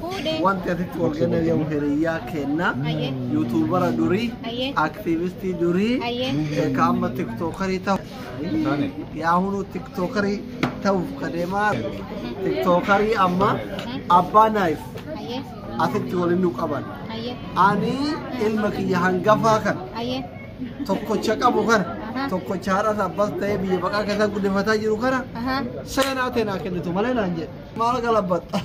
Fuudhee. Wanti asitti wal gana jedhamu hiriyyaa kenna. Ayyee. Yuutuubara durii, Ayyee. aktiivistii durii, Ayyee. eh, ka amma tiktookarii ta'u. Yaa hunu tiktookarii ta'uuf ka deemaa tiktookarii amma abbaa naayif Ayyee. asitti waliin nu qaban. Ayyee. Ani ilma kiyya hangafaa kan Ayyee. tokkocha qabu kana Aha. tokkocha haadhas abbas ta'ee biyya baqaa keessaa guddifataa jiru kana Ahaa. seenaa teenaa kennitu malee naan jedhe. Maal galabatta?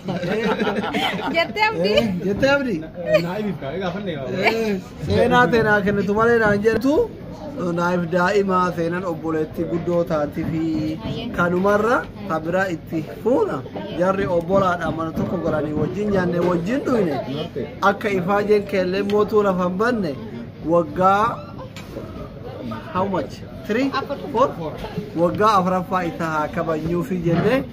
Jettee abdii. Jettee abdii? Naa ibif kaa egaa fanne kaa. Seenaa teenaa kennitu malee naan jettu naaf daa'imaa seenan obboleetti guddoo taati fi kanumarra kabira itti fuuna jarri obbolaadha mana tokko galanii wajjin nyaanne wajjin dhuyne akka ifaajeen keellee mootuu lafa hin banne waggaa how much? Three? Four? Waggaa afraffaa itti haa kabajnuufi jennee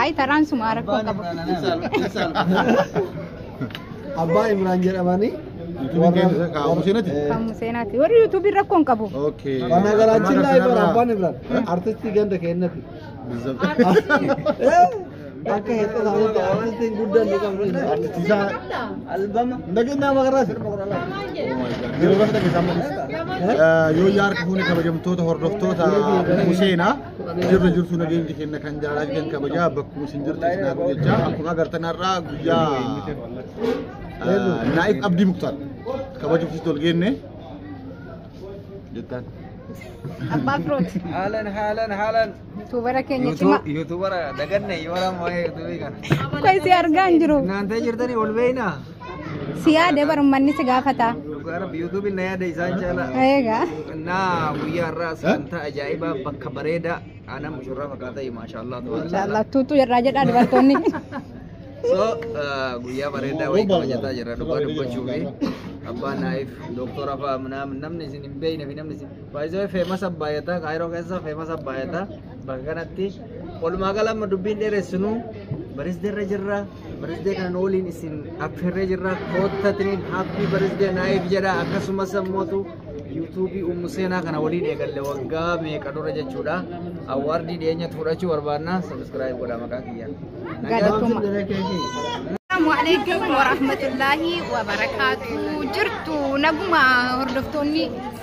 Ayi taraan sumaa rakkoo qabu. Abbaa Imraan jedhamanii Museenati? Kan museenaati. Warri yuutuubiin rakkoo hin qabu. Okay. Mana garaachin laa Imraan Abbaan Imraan artistii ganda keenyati. Bizzab. Akka hedduu ta'utti artistiin guddaan ni qabnu. Artistiisaa Albama. nageenya magaraasi. Yeroo lafa dhageessaa malee. Yoo yaa harka fuune kabajamtoota hordoftoota Museenaa jirra jirtu nageenyi kenna kan jaalala kan kabajaa bakkuma isin jirtu isin haa gochaa akkuma agartan har'aa guyyaa Naayif Abdii Muktaar kabajuuf itti ol geenne jettaan. Abbaa Firooti. Haalan haalan haalan. Yuutuubara keenya cimaa. Yuutuubara daganne yoo waan waa'ee yuutuubii kana. Qoy si argaa hin jiru. Naantee jirtanii wal beeknaa? Si yaade bar ummanni si gaafata. Dhugaa rabbi yuutuubiin na yaada isaan caalaa. Eegaa. Naa guyyaa irraa sagantaa ajaa'ibaa bakka bareedaa aanaa mushurraa fakkaataa maashaallah. Inshaallah tuutuu irraa jedhaa dubartoonni. So uh, guyyaa bareedaa wayii kabajataa jirra dhugaa dubbachuu fi abbaan naayif dooktora fa'aa namni isin hin beekne fi namni isin Baay'isee feemasa baay'ata kaayiroo keessa feemasa baay'ata bakka kanatti walumaa gala amma dubbiin dheeressinu barisdee irra jirra barisdee kan waliin isin affeerree jirra koottatiniin haappii barisdee naayif jedha akkasumas ammootu yuutuubii ummu seenaa kana waliin eegalle waggaa meeqa dura jechuudha awwaardii dhiyeenya fudhachuu barbaanna sabiskiraayib godha maqaa kiyya. Galatoomaa. Assalamu alaikum warahmatullahi wabarakatuh. Jirtu naguma hordoftoonni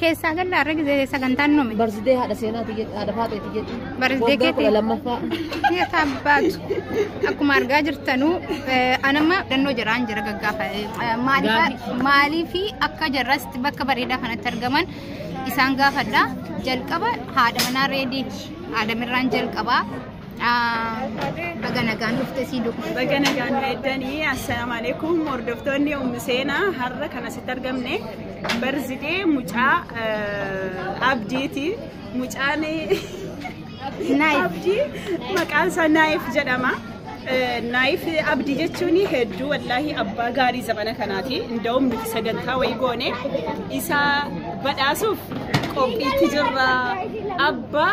Keessaa galla har'a gisee sagantaan nume. Barsidee haadha seenaati jedhu haadha faaxeeti jedhu. Barsidee Waggaa keetii. kudha lammaffaa. Keessa abbaatu. Akkuma argaa jirtanuu eh, anamma dhannoo jiraan jira gaggaafa. Eh, maaliif- Maaliifi akka jarratti bakka bareedaa kanatti argaman isaan gaafadha. Jalqaba haadha manaa reediiti. Haadha mirraan jalqabaa. Baga nagaan dhufte sii dhufu. Baga nagaan nu eeddanii assalaamu alaikum hordoftoonni ummi seenaa har'a kan asitti argamne barzidee mucaa abdiiti mucaan abdii maqaan isaa naayif jedhama. Naayif abdii jechuun hedduu wallaahi abbaa gaarii zamana kanaati inda'uun nuti sagantaa wayii goone isa badhaasuuf qophiitti jirra abbaa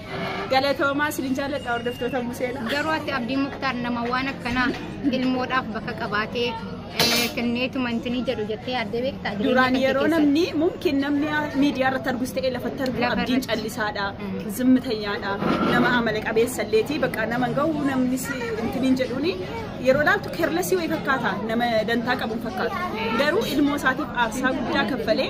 Galatoomaa isin jaalladha hordoftoota Museela. Garuu ati Abdii Muktaar nama waan akkanaa ilmoodhaaf bakka qabaatee eh, kenneetuma intinii jedhu jettee yaaddee beektaa? Jireenya Duraan keetti yeroo keessatti. namni mumkin namni miidiyaa irratti argus ta'e lafatti argu Lafa abdiin irratti. callisaadha, Mm. zimmitanyaadha, nama amala qabeessa illeeti bakka nama hin gahu namni si intiniin jedhuuni yeroo laaltu kerlasii wayii fakkaata nama dantaa qabu hin fakkaatu. Garuu ilmoo isaatiif aarsaa guddaa kaffalee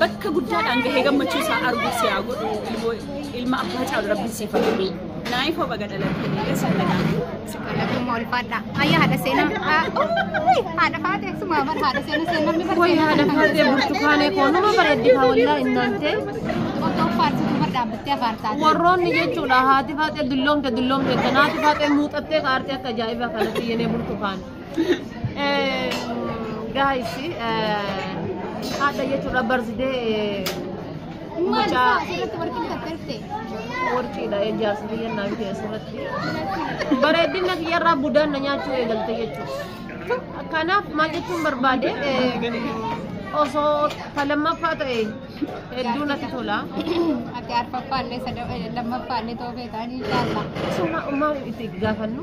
bakka guddaadhaan gahee gammachuu isaa arguu si haa godhu ilmoo ilma abbaa caalu rabbiin siif haa kennu. Naayif hoba gadalattee eessa nagaan. Lakkuma ulfaadha. Ayyaa haadha seenaa. Haadha faatee sumaa bar haadha seenaa seenaa namni bar Wayii haadha faatee burtukaanee koo nama bareeddi haa wallaa innaantee. Otoo faarsitu bar dhaabbattee afaartaa. Warroonni jechuudha haati faatee dulloomte dulloomte tanaati faatee muuxattee kaartee akka ajaa'ibaa kanatti yenee burtukaan. Guys, haadha jechuudha barzidee mucaa warqiidha ijaarsa biyya naa bite asirratti. Bareedina kiyyarraa budaan na nyaachuu eegalte jechuudha. Kanaaf maal jechuun barbaade osoo ta lammaffaa ta'e hedduu natti tola. Ati arfaffaa illee lammaffaa illee ta'uu feetaan inshaallaa. Suma maal itti gaafannu?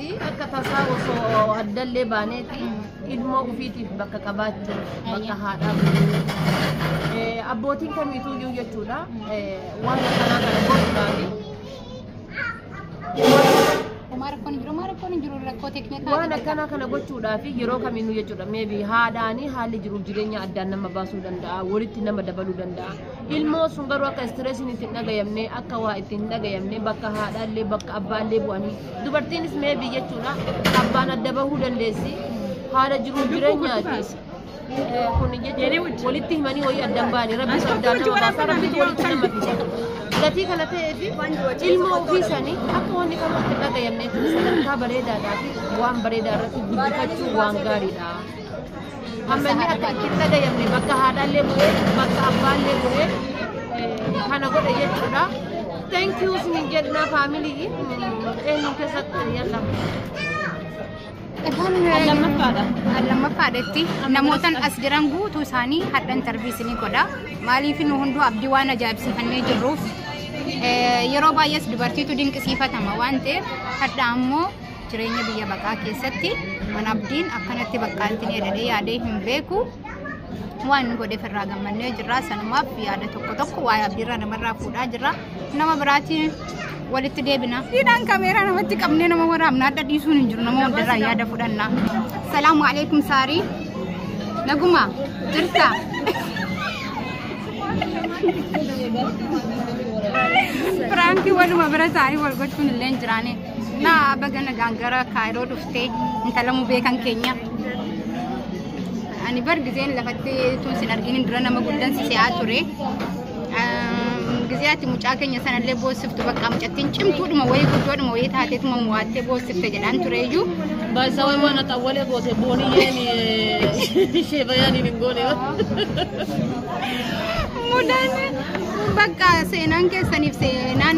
Akka tasaa osoo addallee baaneeti ilmoo ofiitiif bakka qabaachuu bakka haadhaa buluu abbootiin kamiituu iyyuu jechuudha waan akkanaa kana gochuudhaafi Homaa rakkoon hin jiru, homaa rakkoon hin jiru rakkoo teeknikaa. waan akkanaa kana gochuudhaaf yeroo kamiinuu jechuudha meebi haadhaanii haalli jiruuf jireenya addaan nama baasuu danda'a walitti nama dabaluu danda'a Ilmoo sun garuu akka istireesiin itti hin dhagayamne akka waa itti hin dhagayamne bakka haadhaallee bakka abbaallee bu'anii dubartiinis mee biyyachuudha abbaan adda bahuu dandeessi haala jiruun jireenyaati. Eh, Kun jechuun walitti himanii wayii adda hin baane rabbi soddaan nama baasa rabbitu walitti nama fida. Gatii kana ta'eef ilmoo ofii isaanii akka wanni kamuu itti hin dhagayamne kun sadarkaa bareedaadhaa fi waan bareedaa irratti guddifachuu waan gaariidha. Ammallee akka itti hin dhagayamne bakka haadhaallee bu'ee bakka abbaallee bu'ee eh, kana godhe jechuudha. Thank you isinin jenna faamilii eenyu keessatti yalla. Kan lammaffaadha. Kan lammaffaadhatti namootan as jiran guutuu isaanii hadha intarvii isinii godha. Maaliif nu hunduu abdii waan ajaa'ibsiifannee jirruuf eh, yeroo baay'ees dubartiitu dinqisiifatama waan ta'eef hadha ammoo Jireenya biyya baqaa keessatti mana abdiin akkanatti bakka itti yaadadhee yaadee hin beeku. Waan nu godheef irraa gammannee jirra. Sanumaaf yaada tokko tokko waa'ee abdiirraa namarraa fuudhaa jirra. Nama biraatiin walitti deebina. Hidhaan kameeraa namatti qabnee nama waraabna adda dhiisuun hin jiru nama hundarraa yaada fudhanna. Salaamu alaikum saarii. Naguma jirta. Firaanki waluma bira saarii wal gochuun illee hin jiraane. Naa baga nagaan gara kaayiroo dhuftee intala mubee kan keenya. Ani bar gizeen lafatti tun sin arginin dura nama guddan si si'aa ture. Gizee ati mucaa keenya sanallee boossiftu bakka mucattiin cimtuudhuma wayii guddoodhuma wayii taateetuma mo'attee boossifte jedhaan ture iyyuu. Baay'isaa wayii waan haxaa walee goote booniyyeen ishee bayyaan hin goone. Mudaan bakka seenaan keessaniif seenaan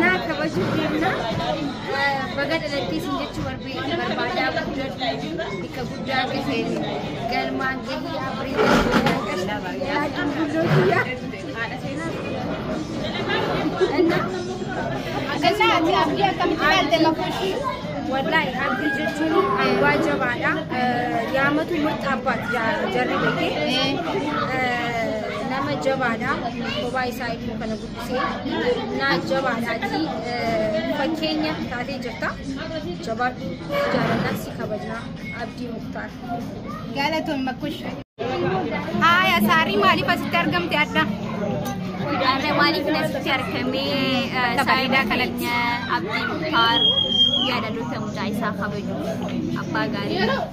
Naa kabajuu deemna. Baga dhalattii isin jechuu barbaade barbaadaa guddadhu. Bakka guddaa gaheen galmaan gahii abreedaa yaaduu guddoo kiyyaa. Ganna ati abdii akkamitti ilaalte makuushii? Wallahi abdii jechuun waa jabaadha. Yaamatu murtaabbaat jarri beekee. nama jabaadha kophaa isaa immoo kana guddisee naa jabaadha ati fakkeenya taatee jirta jabaadhu jaalalaa si kabajnaa abdii muktaar. Galatoon makkush. Haaya saarii maaliif asitti argamte adda? Adda maaliif asitti argamee bareedaa kanatti abdii muktaar yaadaloota mucaa isaa kabaju abbaa gaarii.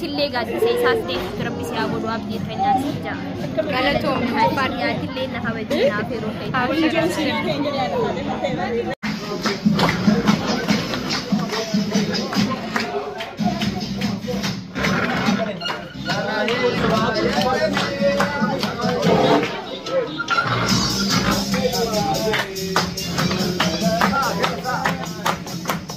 Sillee gaaddisa isaas deemtu rabbi si haa godhu abdii keenyaa si ija. Galatoom Haadis Yaatillee na kabajee naaf yeroo keessa.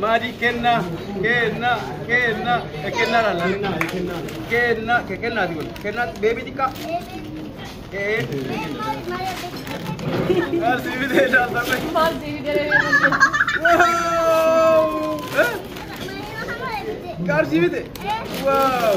Maadii kenna kenna kenna e kenna la kenna kenna ke kenna di wal kenna baby di ka e asi bi de da sa me wow eh karsi bi de wow